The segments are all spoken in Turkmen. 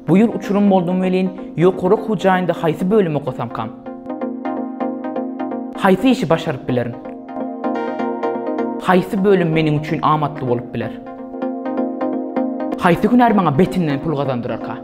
Bu ýyl uçurym boldum welin, ýokary okuw jaýynda haýsy bölüm okasamkam? Haýsy işi başaryp bilerin? Haýsy bölüm meniň üçin amatly bolup biler? Haýsy hünär maňa betinden pul gazandyrarka?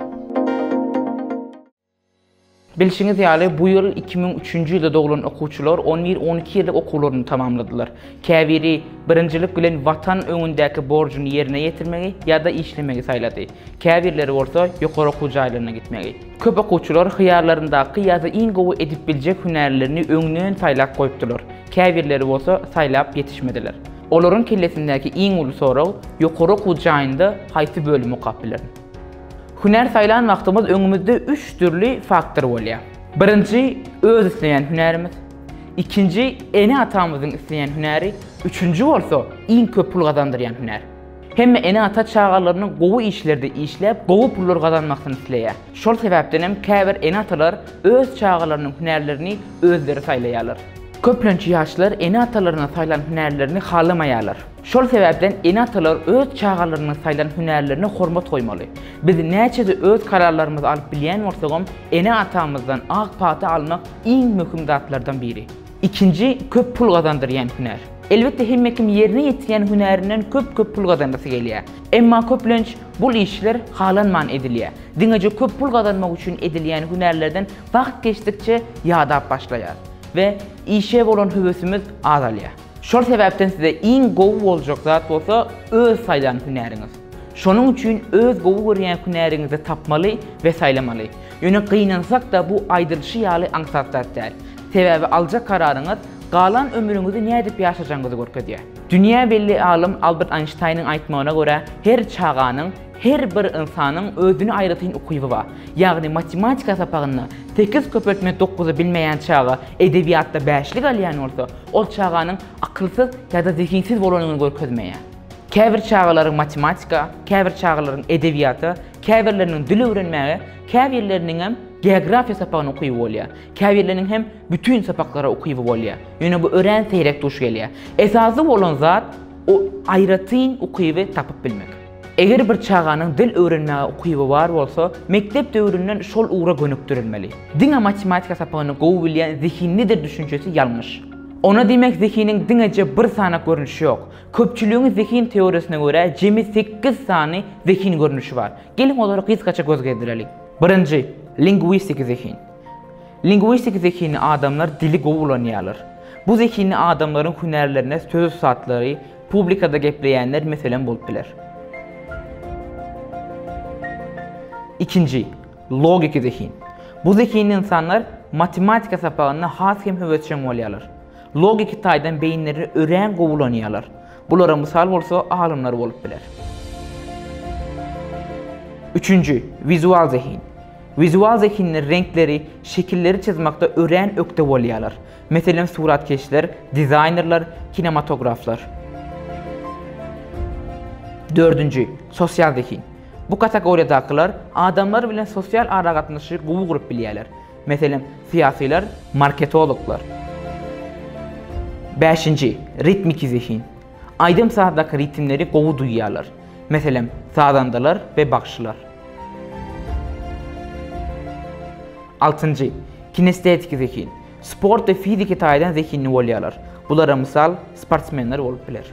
Bilşiňiz ýaly, bu ýyl iki müň üçünji ýylda doglan okuwçylar on bir, on iki ýyllyk okuwlaryny tamamladylar. Käbiri birinjilik bilen Watan öňündäki borjuny ýerine ýetirmegi ýa-da işlemegi saýlady. Käbirleri bolsa ýokary okuw jaýlaryna gitmegi. Köp okuwçylar hyýallaryndaky ýa-da iň gowy edip biljek hünärlerini öňden saýlap goýupdylar. Käbirleri bolsa saýlap ýetişmediler. Olaryň kellesindäki iň uly sorag, ýokary okuw jaýynda haýsy bölümi okap bilerin? Hünär saýlan wagtymyz öňümizde üç dürli faktor bolýar. Birinji, öz isleýän hünärimiz. Ikinji, ene-atamyzyň isleýän hünäri. Üçünji bolsa, iň köp pul gazandyrýan hünär. Hemme ene-ata çagalarynyň gowy işlerde işläp, gowy pullar gazanmasyny isleýär. Şol sebäpden hem käbir ene-atalar öz çagalarynyň hünärlerini özleri saýlaýarlar. Köplenç ýaşlar ene-atalarynyň saýlan hünärlerini halamaýarlar. Şol sebäpden ene-atalar öz çagalarynyň saýlan hünärlerine hormat goýmaly. Biz näçe-de öz kararlarymyzy alyp bilýän bolsagam, ene-atamyzdan ak pata almak iň möhüm zatlardan biri. Ikinji köp pul gazandyrýan hünär. Elbetde hemme kim ýerine ýetirýän hünärinden köp-köp pul gazanasy gelýär. Emma köplenç bul işler halanman edilýär. Diňeje köp pul gazanmak üçin edilýän hünärlerden wagt geçdikçe ýadap başlaýarys we işe bolan höwesimiz azalýar. Şol sebäpden size iň gowy boljak zat bolsa öz saýlan hünäriňiz. Şonuň üçin öz gowy görýän hünäriňizi tapmaly we saýlamaly. Ýöne gynansak-da bu aýdylyşy ýaly aňsat zat däl. Sebäbi aljak kararyňyz galan ömrüňizi nädip ýaşajagyňyzy görkezýär. Dünýä belli alym Albert Aýnştaýnyň aýtmagyna görä her çaganyň, her bir ynsanyň özüne aýratyn ukyby bar. Ýagny matematika sapagynda sekiz köpeltme dokuzy bilmeýän çaga edebiýatda bäşlik alýan bolsa, Ol çaganyň akylsyz ýa-da zehinsiz bolanyny görkezmeýär. Käbir çagalaryň matematika, käbir çagalaryň edebiýata, käbirleriniň dil öwrenmäge, käbirleriniňem geografiýa sapagyna ukyby bolýar. Käbirleriniň hem bütin sapaklara ukyby bolýar. Ýöne bu örän seýrek duş gelýär. Esasy bolan zat, o aýratyn ukyby tapyp bilmek. Eger bir çaganyň dil öwrenmäge ukyby bar bolsa, mekdep döwründen şol ugra gönükdirilmeli. Diňe matematika sapagyny gowy bilýän zehinlidir düşünjesi ýalňyş. Onda diýmek zehiniň diňeje bir sany görnüşi ýok. Köpçüligiň zehin teoriýasyna görä jemi sekiz sany zehin görnüşi bar. Geliň olara gysgaça göz gezdireliň. Birinji, lingwistiki zehin. Lingwistiki zehinli adamlar dili gowy ulanýarlar. Bu zehinli adamlaryň hünärlerine söz ussatlary, Publikada gepleýänler meselem bolup biler. Ikinji, logiki zehin. Bu zehinli ynsanlar matematika sapagynda has hem höwesjeň bolýarlar. Logiki taýdan beýinleri örän gowy ulanýarlar. Bulara mysal bolsa alymlar bolup biler. Üçünji, wizual zehin. Wizual zehinler reňkleri, şekilleri çyzmakda örän ökde bolýarlar. Meselem, suratkeşler, dizaýnerler, kinematograflar. Dördünji, sosial zehin. Bu kategoriýadakylar adamlar bilen sosial aragatnaşygy gowy gurup bilýärler. Meselem, syýasylar, marketologlar. Bäşinji, ritmiki zehin. Aýdym-sazdaky ritmleri gowy duýýarlar. Meselem, sazandalar we bagşylar. Altynjy, kinestetiiki zehin. Sport we fiziki taýdan zehinli bolýarlar. Bulara mysal sportsmenler bolup biler.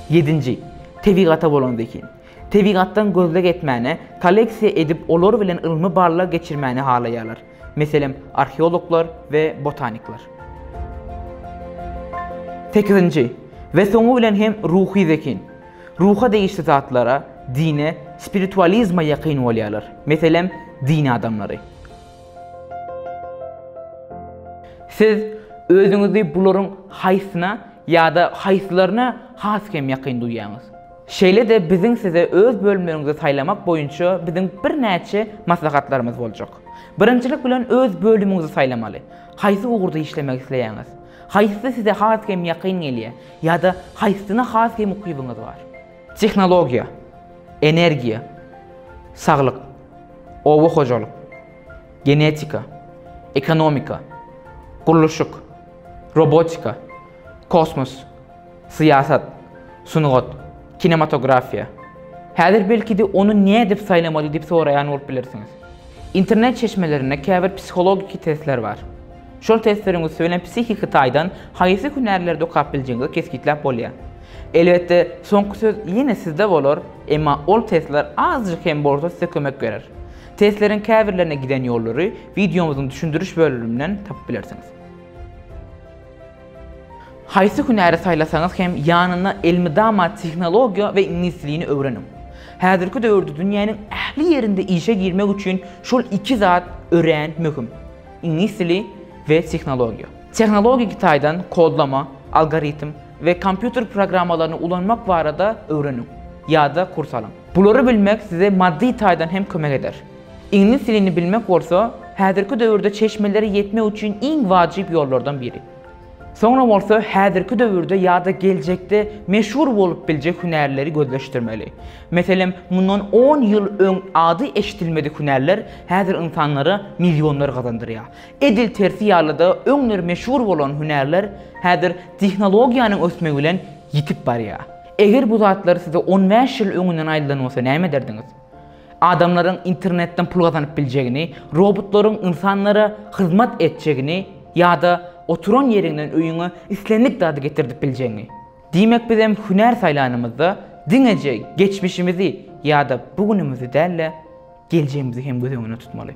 Ýedinji, tebigata bolan zehin. Tebigatdan gözleg etmäni, kolleksiýa edip olar bilen ylmy barlag geçirmäni halaýarlar. Meselem, arheologlar we botanikler. Sekizinji, we soňy bilen hem ruhy zehin. Ruha degişli zatlara, dine, spiritualizme ýakyn bolýarlar, meselem, din adamlary. Siz özüňizi bularyň haýsyna ýa-da haýsylaryna has kem ýakyn duýýaňyz? Şeýle-de biziň size öz bölümleriňizi saýlamak boýunça biziň birnäçe maslahatlarymyz boljak. Birinjilik bilen öz bölümiňizi saýlamaly. Haýsy ugurda işlemek isleýäňiz? Haýsysy size has kem ýakyn gelýär? Ýa-da haýsysyna has hem ukybyňyz bar? Tehnologiýa, energiýa, saglyk, oba hojalyk, genetika, ekonomika, gurluşyk, robotika, kosmos, syýasat, sungat, kinematografiýa. Häzir belki-de ony nädip saýlamaly diýip soraýan bolup bilersiňiz. Internet çeşmelerinde käbir psihologiki testler bar. Şol testleriň üsti bilen psihiki taýdan haýsy hünärleri dokap biljegiňizi kesgitläp bolýar. Elbetde, soňky söz ýene sizde bolar, emma ol testler azajyk hem bolsa size kömek berer. Testleriň käbirlerine giden ýollary wideomyzyň düşündiriş bölüminden tapyp bilersiňiz. Haýsy hünäri saýlasaňyz hem ýanyna elmydama tehnologiýa we iňlis dilini öwreniň. Häzirki döwürde dünýäniň ähli ýerinde işe girmek üçin şol iki zat örän möhüm. Iňlis dili we tehnologiýa. Tehnologiki taýdan kodlama, algoritm we kompýuter programmalaryny ulanmak barada öwreniň ýa-da kurs alyň. Bulary bilmek size maddy taýdan hem kömek eder. Iňlis dilini bilmek bolsa, häzirki döwürde çeşmelere ýetmek üçin iň wajyp ýollardan biri. Soňra bolsa häzirki döwürde ýa-da geljekde meşhur bolup biljek hünärleri gözleşdirmeli. Meselem, mundan on ýyl öň ady eşidilmedik hünärler häzir ynsanlara millionlar gazandyrýar. Edil tersi ýaly-da, öňler meşhur bolan hünärler häzir tehnologiýanyň ösmegi bilen ýitip barýar. Eger bu zatlar size on bäş ýyl öňünden aýdylan bolsa näme ederdiňiz? Adamlaryň internetden pul gazanyp biljegini, robotlaryň ynsanlara hyzmat etjegini ýa-da oturan ýeriňden öýüňe islendik zady getirdip biljegiňi. Diýmek bizem hünär saýlanymyzda diňeje geçmişimizi ýa-da bu günümizi däl-de, geljegimizi hem göz öňünde tutmaly.